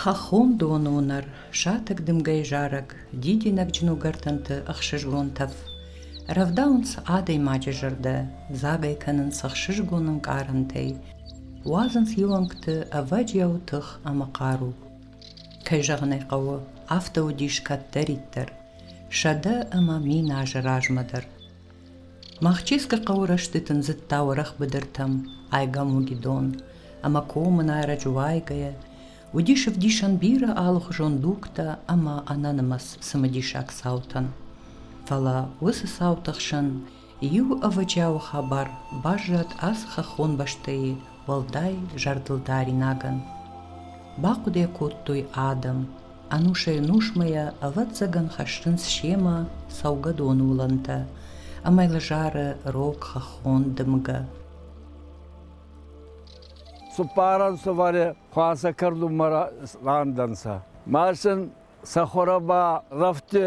Хӕххон доны уынӕр, сатӕг дымгӕйы зарӕг, дидинӕгджын уыгӕртӕнты ӕхсызгон тӕф рӕвдауынц адӕймаджы зӕрдӕ, дзагӕй кӕнынц ӕхсызгон ӕнкъарӕнтӕй, уадзынц иу ӕнгты ӕвӕджиау тых ӕмӕ хъару. Кӕй зӕгъын ӕй хъӕуы, афтӕ уыдис кӕддӕриддӕр сӕдӕ ӕмӕ мин азы размӕ дӕр. Махческы хъӕуы рӕстӕг ӕндзыдта уӕрӕх быдыртӕм айгам угидон, ӕмӕ комын ӕрӕджы уайгӕйӕ, уыдис ӕвдисӕн бирӕ алыхуызон дугтӕ ӕмӕ ӕнӕнымӕц цымыдисаг цаутӕн. Фӕлӕ уыцы цауты хсӕн иу ӕвӕджиауы хабар баззад ацы хӕххон бӕстӕйы уӕлдай зӕрдылдаринагӕн. Бахъуыды кодтой адӕм, ӕнусӕй-ӕнусмӕ йӕ, ӕвӕццӕгӕн, хӕссынц семӕ цӕугӕдоны уылӕнтӕ ӕмӕ лӕзӕры рог хӕххон дымгӕ. Цуппарӕн сывӕле хуасӕ кӕрдунмӕ рандӕнцӕ. Ма сын сӕ хуӕрӕ ба рӕфтӕ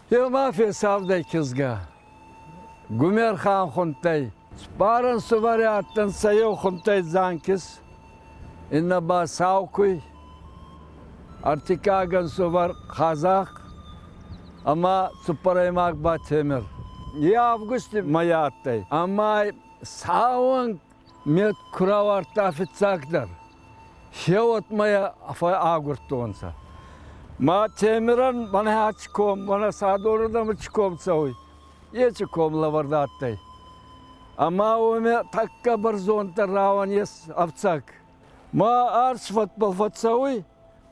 Е ма фесавдӕй кизгӕ. Гумерхан хунтӕй. Спаран сувари адтӕнцӕ еу хунтӕй Дзанкис, иннӕ ба Саукуй, ӕртиккагӕн сувар Хазах ӕма цуппӕрӕймаг ба Темир. Е августи мӕй адтӕй, ӕма сауӕн Ме ку рауардта фиццагдӕр, се уотмӕ агурдтонцӕ. Ма Темиран мӕнӕ аци ком, мӕнӕ Садорадамӕ ци ком цӕуй, еци ком лӕвӕрд адтӕй. Ӕма уомӕ тӕккӕ бӕрзонддӕр рауӕн ес ӕфцӕг. Ма арс фӕтбӕл фӕццӕуй,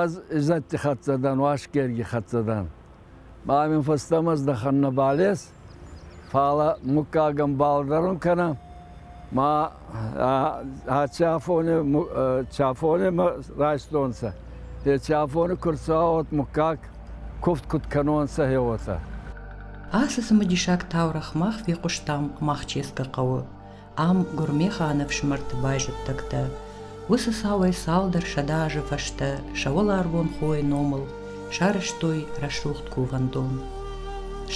Аз Изетти хӕццӕ дӕн, Уасгерги хӕццӕ дӕн. Ба мин фӕстӕмӕ здӕхӕн нӕ балес, фала муггагӕн балдарун кӕнӕн. Ма ӕ чафонемӕ райстонцӕ. Те чафони курцуа уот муггаг кувд куд кӕнонцӕ, е уотӕ. Аци цымидисаг таурӕхъ мах фехъустам Махческы хъӕуы ам Гуырмеханы ӕфсымӕрты байзӕддӕгтӕ, уыцы цауӕй цалдӕр сӕдӕ азы фӕстӕ сӕ уӕларвон хойы номыл сарӕзтой рӕсугъд кувӕндон.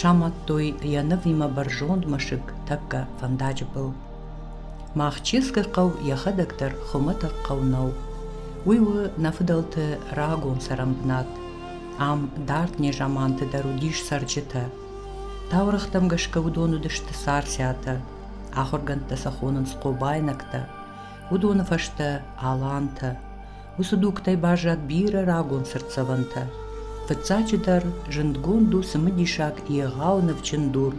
Самадтой йӕ нывимӕ бӕрзонд мӕсыг тӕккӕ фӕндаджы был. Махческы хъӕу йӕхӕдӕг дӕр хуымӕтӕг хъӕу нӕу. Уый у нӕ фыдӕлты рагон цӕрӕнбынат. Ам дард незаманты дӕр уыдис цӕрджытӕ. Таурӕгътӕм гӕсгӕ уыдон уыдысты царциатӕ, Ахуыргӕндтӕ сӕ хонынц хъобайнӕгтӕ. Уыдоны фӕстӕ алантӕ. Уыцы дугтӕй баззад бирӕ рагон цыртдзӕвӕнтӕ. Фыццаджыдӕр, зындгонд у цымыдисаг егъау нывджын дур.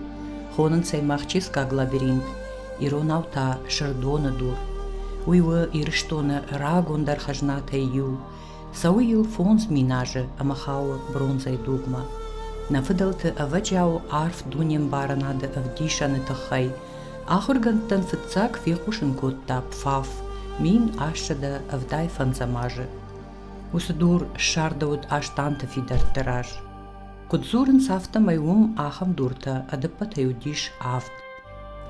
Хонынц ӕй Махческаг лабиринт, иронау та Сырдоны дур. Уый у Ирыстоны рагондӕр хӕзнатӕй иу. Цӕуы йыл фондз мин азы ӕмӕ хауы бронзӕйы дугмӕ. Нӕ фыдӕлты ӕвӕджиауы арф дунембарынады ӕвдисӕны тыххӕй ахуыргӕндтӕн фыццаг фехъусын кодта Пфаф мин ассӕдӕ ӕвдай фӕндзӕм азы. Уыцы дур ссардӕуыд Астанты фидӕртты раз. Куыд дзурынц, афтӕмӕй уым ахӕм дуртӕ ӕдӕппӕтӕй уыдис авд.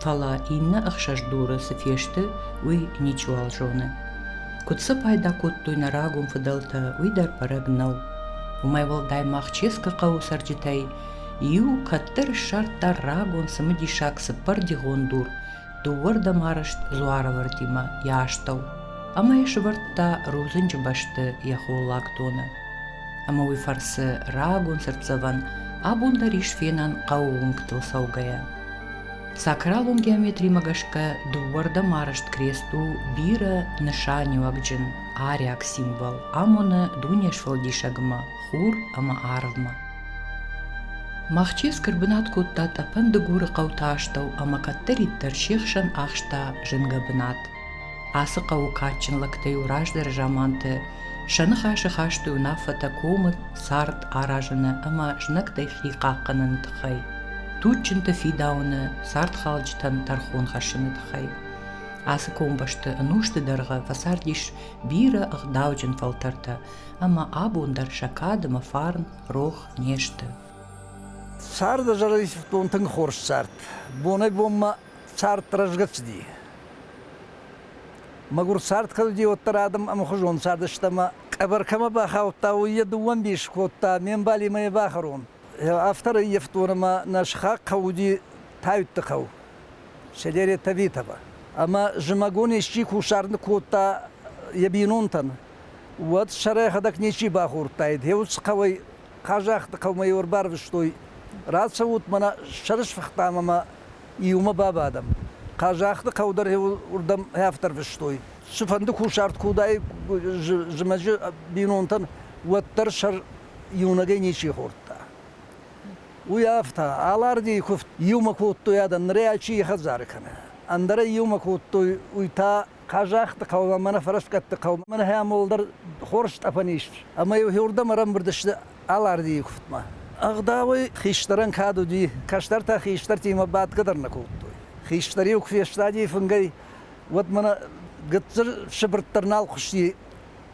Фӕлӕ иннӕ ӕхсӕздуры цы фесты, уый ничиуал зоны. Куыд сӕ пайда кодтой нӕ рагон фыдӕлтӕ, уый дӕр бӕрӕг нӕу. Уымӕй уӕлдай ма Хческы хъӕуы цӕрджытӕй иу кӕддӕр ссардта рагон цымыдисаг цыппӕрдигъон дур дыууӕрдӕм арӕзт дзуарывӕрдимӕ йӕ астӕу ӕмӕ йӕ сывӕрдта рудзынджы бӕсты йӕ холлаг доны. Ӕмӕ уый фӕрцы рагон цыртдзӕвӕн абон дӕр ис фенӕн хъӕуы уынгтыл цӕугӕйӕ. Сакралон геометримӕ гӕсгӕ дыууӕрдӕм арӕзт крест у бирӕ нысаниуӕгджын ариаг символ, амоны дуне сфӕлдисӕгмӕ хур ӕмӕ арвмӕ. Махческ ӕрбынат кодта тъӕпӕн Дыгуры хъӕуты астӕу ӕмӕ кӕддӕриддӕр се хсӕн ахста зынгӕ бынат. Ацы хъӕуы кадджын лӕгтӕ-иу раздӕры заманты сӕ ныхасы хастой уынаффӕтӕ комы цард аразыны ӕмӕ знӕгтӕй хи хъахъхъӕныны тыххӕй, туджджынты фидауыны, цардхалджытӕн тӕрхон хӕссыны тыххӕй. Ацы комбӕсты ӕнусты дӕргъы фӕцардис бирӕ ӕгъдауджын фӕлтӕртӕ, ӕмӕ абон дӕр сӕ кад ӕмӕ фарн рох не сты. Царды зарӕг исфтон тынг хорз цард. Бонӕй-бонмӕ цард рӕзгӕ цыди. Мӕгур цард кӕдди уӕддӕр адӕм ӕмхузон цардыстӕмӕ къӕбӕр кӕмӕ бахаудта, уый е дууӕн дис кодта, ме мбал имӕ е бахӕрон. Автор ӕййӕфтонӕмӕ нӕ схахх гъӕуди Тайутты хъӕу, селери Тавитово. Ӕма зумӕгон исчи кусард кодта е бийнонтӕн, уӕд сӕрӕхӕдӕг ничи бахордтаид. Еуц хъӕуӕй, Хъазахъти хъӕумӕ еу ӕрбарвистой, рацӕут, мӕнӕ сӕрысфахтам ӕма иумӕ бабадӕм. Хъазахты хъӕу дӕр уырдӕм афтӕ рвыстой. Цыфӕнды кусарт куы уыдаид зымӕджы бинонтӕн, уӕддӕр сӕ иунӕгӕй ничи хордта. Уый афтӕ, алардийы куывд иумӕ кодтой адӕм, нырӕй чи хӕдзары кӕна. Ӕндӕрӕй иумӕ кодтой, уый та Казахты хъӕумӕ, мӕнӕ Фӕрӕскъӕтты хъӕумӕ, мӕнӕ хӕмол дӕр хорз тъӕпӕн ис. Ӕмӕ-иу уырдӕм ӕрӕмбырд сты Алардийы куывдмӕ. Ӕгъдауӕй хистӕрӕн кад уыди, кӕстӕртӕ хистӕртимӕ бӕтгӕ дӕр нӕ кодтой. Хистӕр-иу куы фестади фынгӕй, уӕд мӕнӕ гыццыл сыбыртт дӕр нал хъуысти.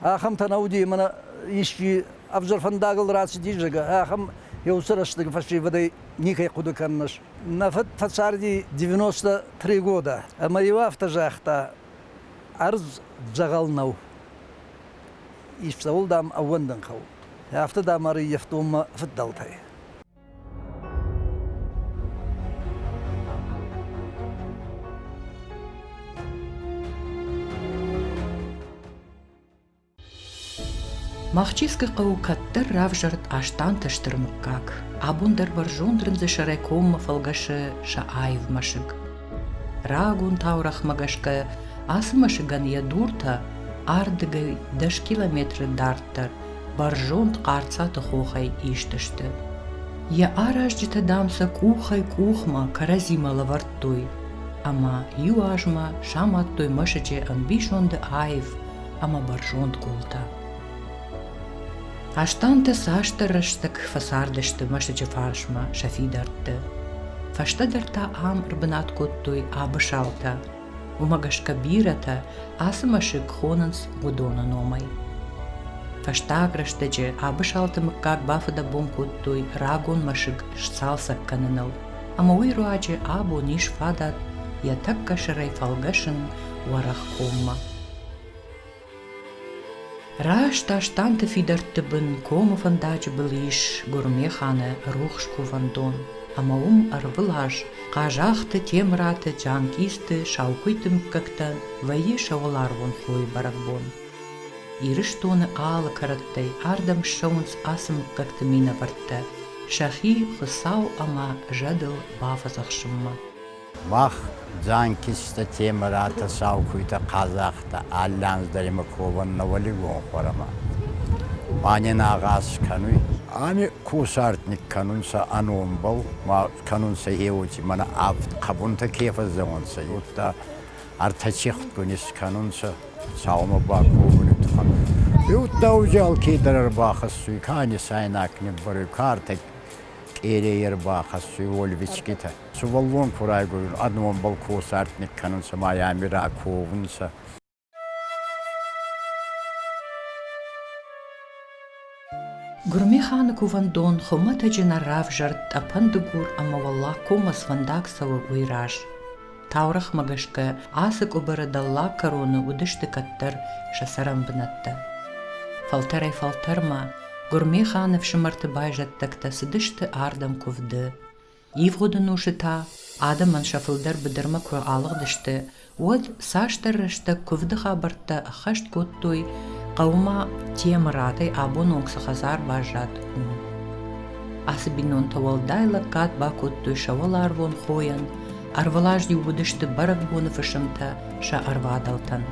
Ахӕмтӕ нӕ уыди ӕмӕ исчи ӕвзӕр фӕндагыл рацыдис, зӕгъгӕ, ахӕм еу уыцы рӕстӕг фӕсевӕдӕй никӕй хъуыды кӕннӕс. Нӕ фыд фӕцарди 93 года, ӕмӕ-иу афтӕ загъта, ӕрдз дзӕгъӕл нӕу. Ис цӕуыл, дам, ӕууӕндын хъӕуы. Афтӕ, дам, ӕрыййӕфтон мӕ фыддӕлтӕй. Махческы хъӕу кӕддӕр равзӕрд Астанты стыр мыггаг. Абон дӕр бӕрзонд рындзы сӕрӕй коммӕ фӕлгӕсы сӕ аив мӕсыг. Рагон таурӕхмӕ гӕсгӕ ацы мӕсыгӕн йӕ дуртӕ ардыгӕй 10 километры дарддӕр Бӕрзонд хъарцъӕты хохӕй ист сты. Йӕ аразджытӕ, дам, сӕ къухӕй-къухмӕ кӕрӕдзимӕ лӕвӕрдтой, ӕмӕ иу азмӕ самадтой мӕсыджы ӕмбисонды аив ӕмӕ бӕрзонд къултӕ. Астанты цасдӕр рӕстӕг фӕцардысты мӕсыджы фарсмӕ сӕ фидӕртты. Фӕстӕдӕр та ам ӕрбынат кодтой абысалтӕ, уымӕ гӕсгӕ бирӕтӕ ацы мӕсыг хонынц уыдоны номӕй. Фӕстаг рӕстӕджы Абысалты мыггаг бафыдӕбон кодтой рагон мӕсыг сцалцӕг кӕныныл, ӕмӕ уый руаджы абон ис фадат йӕ тӕккӕ сӕрӕй фӕлгӕсын уӕрӕхкоммӕ. Раст Астанты фидӕртты бын комы фӕндаджы был ис гуырмеханы рухс кувӕндон, ӕмӕ уым ӕрвылаз Хъазахты, Темыраты, Джанкъизты, Саукуйты мыггӕгтӕн вӕййы сӕ уӕларвон хойы бӕрӕгбон. Ирыстоны алы кӕрӕттӕй ардӕм ссӕуынц ацы мыггӕгты минӕвӕрттӕ сӕхи Хуыцау ӕмӕ зӕдыл бафӕдзӕхсынмӕ. Мах дзанкистӕ темӕратӕ сау куйтӕ хъазахътӕ алландздаримӕ ковӕн нӕуӕлигон хуӕрӕмӕ ма нин агъаз кӕнуй. Ами кусартник кӕнунцӕ ӕ номбӕл, ма кӕнунцӕ еути мӕнӕ авд хъӕбунтӕ ке фӕззевунцӕ, уотӕ ӕртӕ цихтгун искӕнунцӕ саумӕ баковуни туххӕн. Еудта узӕлки дӕр ӕрбахӕссуй, ка нисайнаг ниббӕруй, картӕ къерей ӕрбахӕссуй, уольвичкитӕ. Сувӕллон ку райгурун, ӕднонбӕл ку сӕртник кӕнунцӕ ма ами раковунцӕ. Гурмиханы кувӕндон хуымӕтӕджы нӕ равзӕрд тъӕпӕн дыгур ӕмӕ Уӕллагкоммӕ сфӕндаг цӕуы уый раз. Таурӕгъмӕ гӕсгӕ ацы къуыбыры дӕллаг кӕроны уыдысты кӕддӕр сӕ цӕрӕнбынӕттӕ. Фӕлтӕрӕй-фӕлтӕрмӕ Гурмеханы ӕфсымӕрты байзӕддӕгтӕ цыдысты ардӕм куывды. Ивгъуыд ӕнусы та адӕмӕн сӕ фылдӕр быдырмӕ куы алыгъдысты, уӕд цасдӕр рӕстӕг куывды хабӕрттӕ ӕххӕст кодтой, хъӕуы ма Темырадӕй абон онг цы хӕдзар баззад, уым. Ацы бинонтӕ уӕлдай лӕггад бакодтой сӕ уӕларвон хойӕн, ӕрвылаз-иу уыдысты бӕрӕгбоны фысымтӕ сӕ ӕрвадӕлтӕн.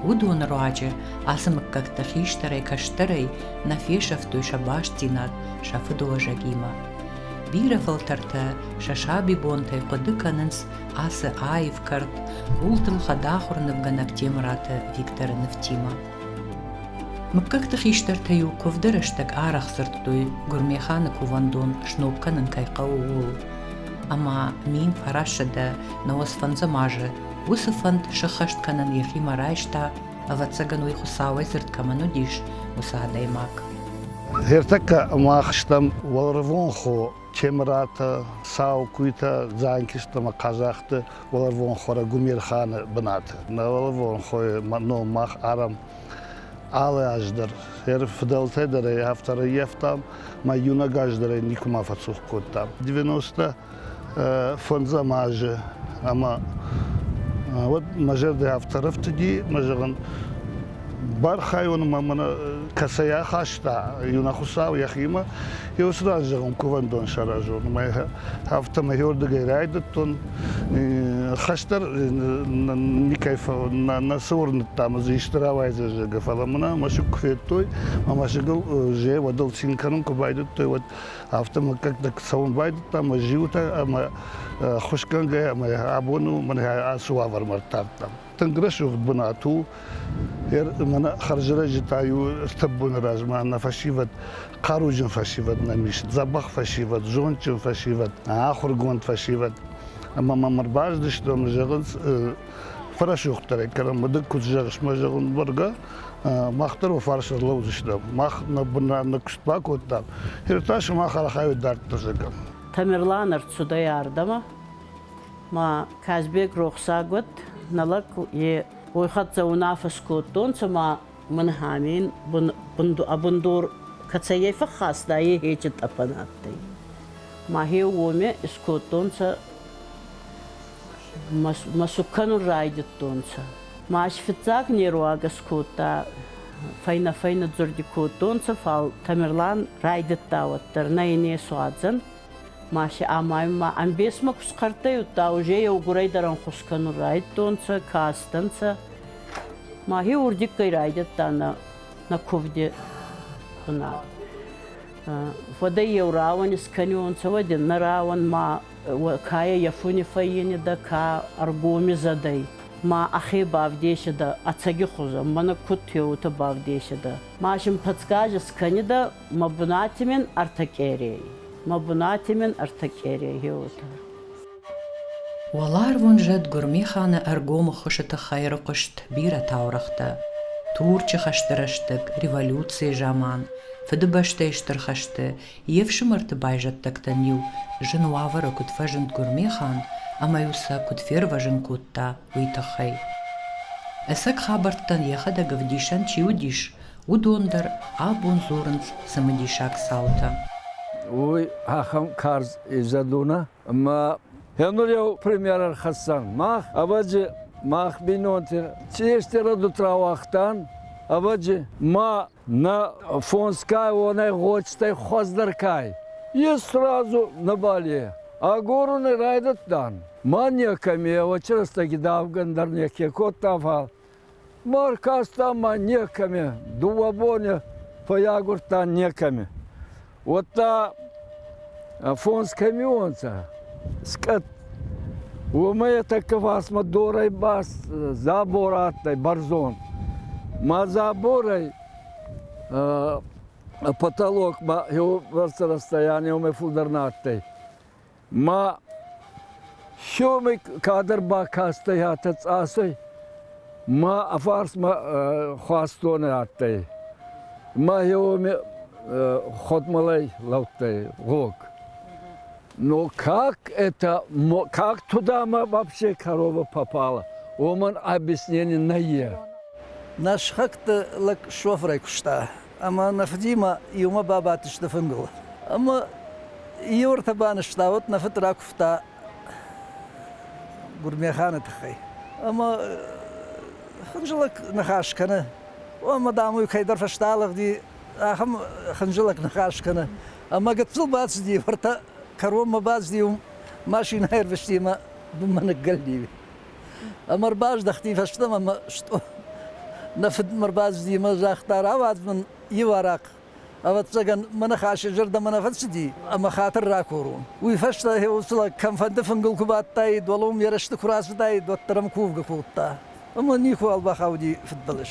Уыдоны руаджы ацы мыггӕгтӕ хистӕрӕй-кӕстӕрӕй нӕ фесӕфтой сӕ бастдзинад сӕ фыдыуӕзӕгимӕ. Бирӕ фӕлтӕртӕ сӕ сабибонтӕй хъуыды кӕнынц ацы аив кӕрт хъултыл хӕдахуыр нывгӕнӕг Темыраты Викторы нывтимӕ. Мыггӕгты хистӕртӕ-иу куывды рӕстӕг арӕх дзырдтой, Гуырмеханы кувӕндон сног кӕнын кӕй хъӕуы, ууыл. Ӕмӕ мин фӕрӕссыдӕ науӕд сфӕндзӕм азы уыцы фӕнд сыххӕст кӕнын йӕхимӕ райста, ӕвӕццӕгӕн уый Хуыцауӕй дзырд кӕмӕн уыдис, уыцы адӕймаг. Ӕртӕккӕ мах стӕм уӕларвон хо Темыратӕ, сау куйтӕ Дзанкист ӕмӕ Хъазахты уӕларвон хорӕ Гумерханы бынаты. Нӕ уӕларвон хойы ном мах арам алы аз дӕр. Ӕр фыдӕлтӕй дӕр ӕй автор ӕййӕфтам, мӕ иунӕг аз дӕр ӕй никуыма фӕцух кодтам. 90-тӕ фӕндзӕм азы ӕмӕ уӕд мӕ зӕрдӕ афтӕ рӕфтыди мӕ зӕгъын бархайон ма мӕ кӕцӕй ахаста иу нӕ хуыцау йӕхимӕ я уыцы раз зӕгъын кувӕндон саразон мӕ афтӕ мӕйордыгӕй райдыдтон хӕстӕр никӕй нӕ цы уырныдта мӕ дзы исты рауайдзӕ зӕгӕ фӕлӕ мӕнӕ мӕсыг куы федтой мӕ мӕсыгыл же уӕдыл цин кӕнын куы байдыдтой уӕд Афтӕ мыггӕгтӕ цӕуын байдыдтам, зиутӕ ӕмӕ хуысгӕнгӕ ӕмӕ абон у мӕн ацы уавӕрмӕ ӕртардтам. Тынг рӕсугъд бынат у. Мӕнӕ хӕрзрӕджытӕ-иу стӕп боны размӕ нӕ фӕсивӕд, хъаруджын фӕсивӕд нӕм ис, дзӕбӕх фӕсивӕд, зондджын фӕсивӕд, ахуыргонд фӕсивӕд. Ӕмӕ мӕм ӕрбаздыстӕм, зӕгъынц, фӕрӕсугъддӕрӕй, кӕнӕ мыдык куыд зӕгъыс, мӕ зӕгъын, бӕргӕ. мах дӕр уӕ фарс ӕрлӕудзыстӕм. Мах нӕ бынран нӕ куыст бакодтам. Ныр та сымах архайут дарддӕр зӕгӕм. Тамерлан ӕрцудӕй ардӕмӕ. Ма Казбек рохсаг уӕд, нӕ лӕг е уой хӕццӕ унаффӕ скодтонцӕ ма мин Хамин бундор кӕцӕййӕй фӕххаста, е хечи тъӕпӕн адтӕй. Махе уоме искодтонцӕ мӕ цуг кӕнун райдӕдтонцӕ. Ма ӕз фиццаг неруагӕс кодта, фӕйнӕ-фӕйнӕдзорди кодтонцӕ, фал Тамерлан райдӕдта уӕддӕр, нӕ ин есуадзӕн. Ма си амайунмӕ ӕмбесмӕ ку схъӕрттӕйудта, уже еугурӕй дӕр ӕнхус кӕнун райдтонцӕ, кастӕнцӕ. Мӕхе урдиггӕй райдӕдта нӕ, нӕ кувди бунат. Уӕдӕй еу рауӕн искӕнионцӕ, уӕд нӕ рауӕн ма Кайӕ Яфони фӕййенидӕ ка ӕргоми зӕдӕй, ма ӕхе бавдесидӕ ӕцӕги хузӕн, мӕнӕ куд теута бавдесидӕ. Ма син подсказӕ скӕнидӕ мӕ бунати мин ӕртӕ къерей. Мӕ бунати мин ӕртӕ къерей хеутӕ. Уӕларвон зӕд Гуырмиханы ӕргомы хуысы тыххӕй ӕрыхъуыст бирӕ таурӕгътӕ, Турчы хӕсты рӕстӕг, революцийы заман, Фыдыбӕстӕйы Стыр хӕсты, Йе фсымӕрты байзӕддӕгтӕн-иу зын уавӕры куыд фӕзынд Гуырмехан ӕмӕ-иу сӕ куыд фервӕзын кодта, уый тыххӕй. Ӕцӕг хабӕрттӕн йӕхӕдӕг ӕвдисӕн чи уыдис, уыдон дӕр абон дзурынц цымыдисаг цаутӕ. Уый ахӕм карз изӕд у нӕ? Ӕмӕ ныр йӕу пример ӕрхӕссӕн. Мах, ӕвӕджы, мах бинонты, чи стӕры дут рауагътан, ӕвӕджы, ма На фонскай уонӕй гъочтӕй хуӕздӕр кай. Е сразу на бале. Агоруни райдӕдтан. Ма некӕми очи рӕстӕги давган дӕр неке кодта, фал баркаста ма некӕми, дууӕ боне фӕйагурдтан некӕми. уӕдта фондз камионтӕ скъӕт уомӕй тӕккӕ фарсмӕ дорӕй ба забор адтӕй бӕрзонд ма заборӕй потолок ба еугӕрцӕ расстояние уомӕй фулдӕр нӕ адтӕй Ма сёми кадӕр бакастӕй атӕ цъасӕй, ма ӕ фарсмӕ хуастонӕ адтӕй. Ма еуоми ходмалӕй лӕудтӕй гъог. Но как это, как тудӕмӕ вообще корова попала, уомӕн объяснений нӕййе. Нӕ сыхӕгты лӕг шофырӕй куыста. Ӕмӕ нӕ фыдимӕ иумӕ бабадтысты фынгыл. Ӕмӕ иу ӕртӕ банызтауӕд нӕ фыд ракуывта Гуырмеханы тыххӕй. Ӕмӕ хынджылӕг ныхас кӕны. Ӕмӕ, дам, уый кӕйдӕр фӕстӕлыгъди, ахӕм хынджылӕг ныхас кӕны. Ӕмӕ гыццыл бацыди, ӕртӕ кӕронмӕ бацыди, уым машинӕ ӕрвысти ӕмӕ бынмӕ ныггӕлди. Ӕмӕ ӕрбаздӕхти фӕстӕмӕ ӕмӕ нӕ фыд мӕ ӕрбацыди ӕмӕ загъта, рауадз мын иу арахъ, ӕвӕццӕгӕн мӕ ныхасы зӕрдӕмӕ нӕ фӕцыди ӕмӕ хатыр ракурон. Уый фӕстӕ сылаг кӕмфӕнды фынгыл куы бадтаид, уӕлӕм ерысты куы рацыдаид, уӕддӕр ӕм кувгӕ кодта. Ӕмӕ никуыуал бахауди фыдбылыз.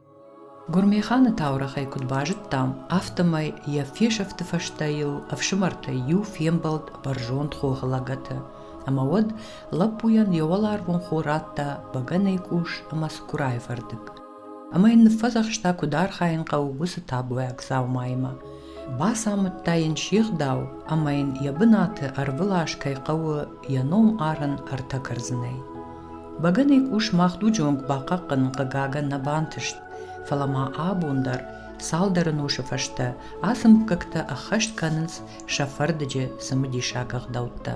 Гуырмеханы таурӕгъӕй куыд базыдтам, афтӕмӕй йӕ фесӕфты фӕстӕ йыл ӕфсымӕртӕй иу фембӕлд бӕрзонд хохы лӕгӕты, ӕмӕ уӕд лӕппуйӕн йӕ уӕларвон хо радта бӕгӕныйы къус ӕмӕ цыкурайы фӕрдыг. Ӕмӕ йын ныффӕдзӕхста, куыд архайын хъӕуы уыцы табуӕг дзаумаимӕ. Бацамыдта йын се гъдау ӕмӕ йын йӕ бынаты ӕрвылаз кӕй хъӕуы йӕ ном арын ӕртӕ кӕрдзынӕй. бӕгӕныйы къус мах дуджы онг бахъахъхъӕнын хъыгагӕн нӕ бантыст фӕлӕ ма абон дӕр цалдӕр ӕнусы фӕстӕ ацы мыггӕгтӕ ӕххӕст кӕнынц сӕ фӕрдыджы цымыдисаг ӕгъдӕуттӕ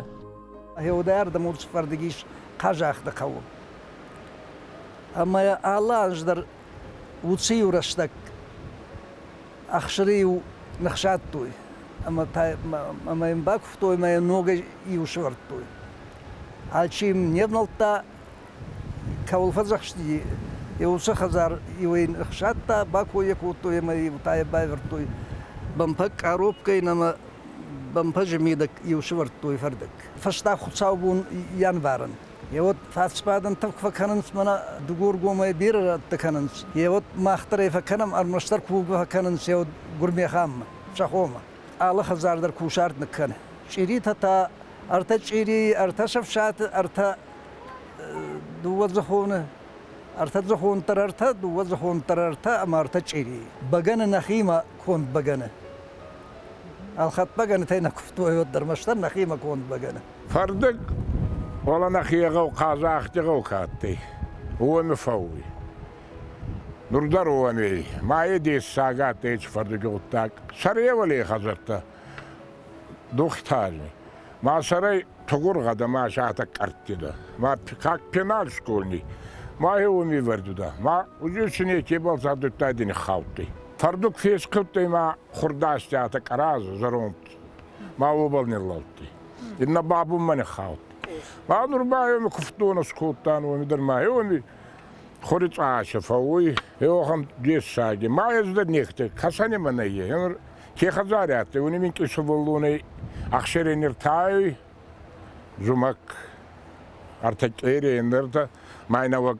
гъеуыдӕрдӕм урс фӕрдыг ис хъазахъхъты хъӕуы ӕмӕ алы аз дӕр лучший-иу рӕстӕг ӕхсыры-иу ныхсадтой ӕмӕ ӕмӕ йын бакуывтой ӕмӕ йӕ ногӕй-иу сывӕрдтой. Алчи йын не внӕлдта, кӕуыл фӕдзӕхсти, йӕ уыцы хӕдзар иу ын ӕхсадта, бакой йӕ кодтой ӕмӕ-иу та йӕ байвӕрдтой бӕмпӕг къаропкӕйын ӕмӕ бӕмпӕджы мидӕг-иу сывӕрдтой фӕрдыг. Фӕста хуыцаубон январӕн. Йе вот фӕсфӕдӕн тых фӕкӕнынц мӕнӕ дыгургомӕй бирӕ рӕтты кӕнынц. Йе вот мах дӕр ӕй фӕкӕнӕм, ӕрмӕстдӕр кувгӕ фӕкӕнынц йӕ гуырмӕханмӕ, сӕхомӕ. Алы хӕдзар дӕр кусарт ныккӕны. Чъиритӕ та ӕртӕ чъирийы, ӕртӕ сӕфсаты, ӕртӕ дыууӕдзыхоны, ӕртӕ дзыхон дӕр ӕртӕ, дыууӕ дзыхон дӕр ӕртӕ ӕмӕ ӕртӕ чъирийы. Бӕгӕны нӕхимӕ конд бӕгӕны. Ӕлхӕд бӕгӕнытӕй нӕ куывтой ӕрмӕстдӕр нӕхимӕ конд бӕгӕны. Фӕрдыг Ола нӕхе гъӕу Хъазахти гъӕу ка адтӕй, уони фӕууй. Нур дӕр уон ей. Ма е дессаг адтӕй еци фӕрдуги гъуддаг. Сӕревалей хӕдзӕрттӕ духтари. Ма сӕрӕй тугур гъӕдӕмӕ сатӕг къӕрттидӕ. Ма как пенал школьный. Ма е уоми вӕрдудӕ. Ма узичи некебал задудтайди ниххаудтӕй. Фӕрдуг фесхудтӕй ма хурдастиатӕ къӕразӕ зӕронд Ма уобӕл ниллӕудтӕй. Иннӕ бабунмӕ ниххаудтӕй. Ма нур ба еуми кувддон скодтан, уоми дӕр ма еуми хури цъача фӕууй, еуӕхӕн дессаги. Ма ездӕн нехтӕй, кӕсӕнемӕ нӕййӕй. Е нур ке хӕдзари адтӕй, уони минкъий сувӕллонӕй ӕхсерӕй ниртайуй зумӕг, ӕртӕ къерей, ӕндӕртӕ. Ма ин нӕуӕг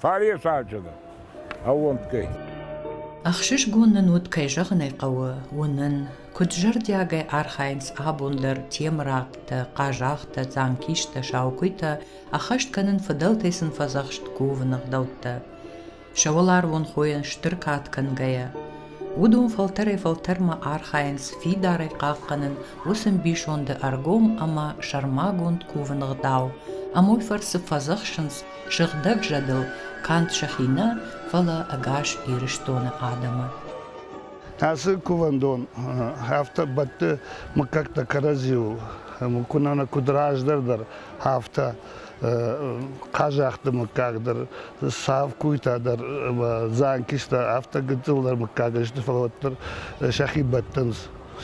Фаресаджыны ӕууӕнкгӕй. Ӕхсызгон нын уыд, кӕй зӕгъын ӕй хъӕуы, уынын, куыд зӕрдиагӕй архайынц абон дӕр темырӕгътӕ, хъазахътӕ, дзамкистӕ, саукуыйтӕ ӕххӕст кӕнын, фыдӕлтӕй сын фӕдзӕхст кувын ӕгъдӕуттӕ. сӕ уӕларвон хойӕн стыр кад кӕнгӕйӕ. Уыдон фӕлтӕрӕй-фӕлтӕрмӕ архайынц фидарӕй хъахъхъӕнын уыцы ӕмбисонды ӕргом ӕмӕ сӕрмагонд кувын ӕгъдау, ӕмой фӕрцы фӕдзӕхсынц сыгъдӕг зӕдыл канд сӕхи нӕ, фӕлӕ ӕгас Ирыстоны адӕмы. Ацы кувӕндон афтӕ бӕтты мыггӕгтӕ кӕрӕдзиуыл, куы нӕ куыд раздӕр дӕр, афтӕ хъазахты мыггаг дӕр, савкуйтӕ дӕр, дзанкистӕ, афтӕ гыццылдӕр мыггаг сты, фӕлӕ уӕддӕр сӕхи бӕттынц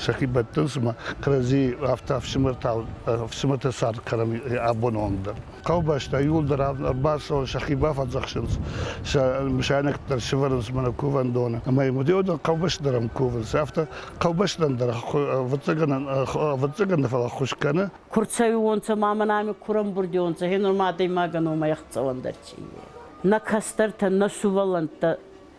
сӕхи бӕттынц ӕмӕ кӕрӕдзи афтӕ ӕфсымӕртау ӕфсымӕрты цард кӕнӕм абоны онг дӕр. хъӕубӕстӕ иууылдӕр ӕрбацӕуын сӕхи бафӕдзӕхсынц, сӕ мысайнӕгтӕ сывӕрынц мӕ кувӕндоны. Ӕмӕ йӕм хъӕубӕсты дӕр ӕм кувынц. Афтӕ хъӕубӕстӕн дӕр ӕвӕццӕгӕн фӕлаххуыс кӕны. Кур цӕуионцӕ ма мӕн ами курӕмбурдионцӕ, гьенур ма адӕймагӕн омӕ ӕхцӕуӕн дӕр ци ие. Нӕ кӕстӕртӕн, нӕ сувӕллӕнттӕ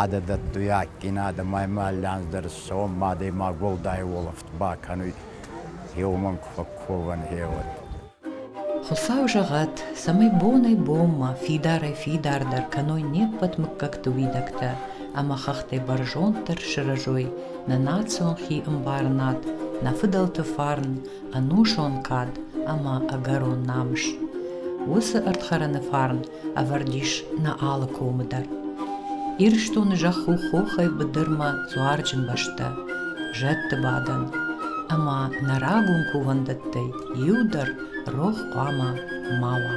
Адӕ дӕттуй адгин адӕмӕй ма лӕнздӕр сом адӕймаг уӕлдай уолӕфт бакӕнуй, еу мӕн ку фӕкковӕн, е уӕд. Хуцау зӕгъӕд, цӕмӕй бонӕй-бонмӕ фидарӕй-фидардӕр кӕной не ппӕт муггӕгти уидӕгтӕ ӕма хӕхтӕй бӕрзонддӕр сырӕзой нӕ национ хиӕмбарынад, нӕ фыдӕлты фарн, ӕнусон кад ӕмӕ ӕгӕрон намыс. Уыцы ӕрдхӕрӕны фарн ӕвӕрд ис нӕ алы комы дӕр. Ирыстоны зӕхх у хохӕй быдырмӕ дзуарджын бӕстӕ, зӕдты бадӕн, ӕмӕ нӕ рагон кувӕндӕттӕй иу дӕр рох хъуамӕ ма уа.